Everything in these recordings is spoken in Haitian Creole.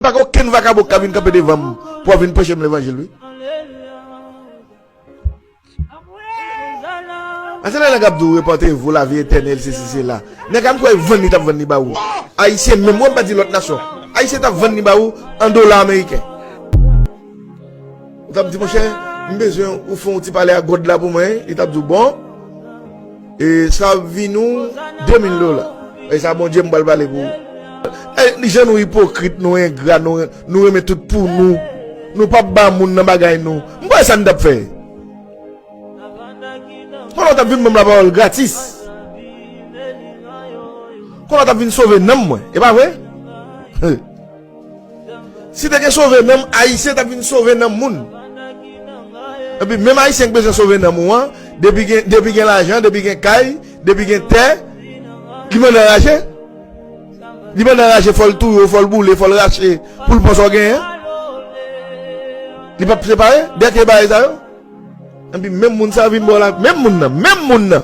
Pa gen okenn vakabon kap vin kanpe devanm pou ap vin preche m levanjil wi. Pase lè nèg ap di w repante vou lavi etènèl sesi sela. Nèg a m kwè vann li tap vann li ba ou. Ayisyen menm wi m pa di lòt nasyon. Ayisyen tap vann li ba ou an dola ameriken. Ou tap di monchè, m bezwen ou fè yon ti pale ak God la pou mwen, li tap di w bon, e sa ap vini w 2000 dola. E sa Bondye m pral pale pou ou. Jan nou ipokrit, nou engra, nou renmen tout pou nou, nou pap ba moun nan bagay nou. M pa wè sa n tap fè. Kon la w tap vin ban m lapawòl gratis. Kon la w tap vin sove nanm mwen, e pa vre? Si te gen sove nanm ayisyen tap vin sove nanm moun Epi menm ayisyen ki bezwen sove nanm ou an depi gen depi gen lajan depi gen kay depi gen tè li bann anraje li bann anraje fòl touye w fòl boule fòl rache poul pran sa w genyen li pap separe dè ke bagay sa yo Epi menm moun sa vin ba w la menm moun nan menm moun nan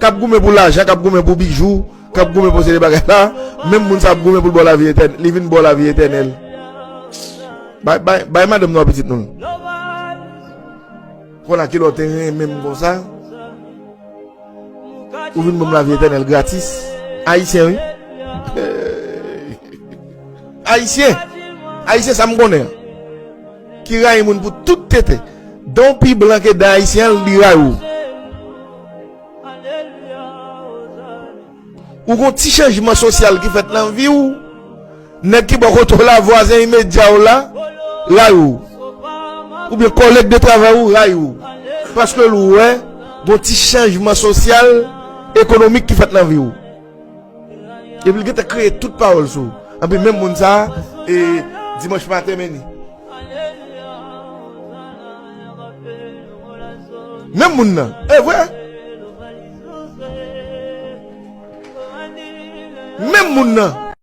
kap goumen pou lajan kap goumen pou bijou. Kap goumen pou se de bagay sa Menm moun sa ap goumen poul baw lavi etènèl Li vin baw lavi etènèl Bay madanm nou a pitit nou Kon a kilè w te renmen m konsa Ou vin banm lavi etènèl gratis Ayisyen wi Ayisyen Ayisyen sa m konnen Ki rayi moun pou tout tete Dan w pi blan ke dan ayisyen li rayi w Ou gon ti chanjman sosyal ki fèt nan vi w, nèg ki bò kote w la, vwazen imedya w la, rayi w. Oubyen kòlèg de travay ou rayi w. Paske l wè gon ti chanjman sosyal, ekonomik ki fèt nan vi w. Epi li gentan kreye tout pawòl sou ou. Anpi menm moun sa a e dimanch maten men li. Menm moun nan. E vre? Menm moun nan.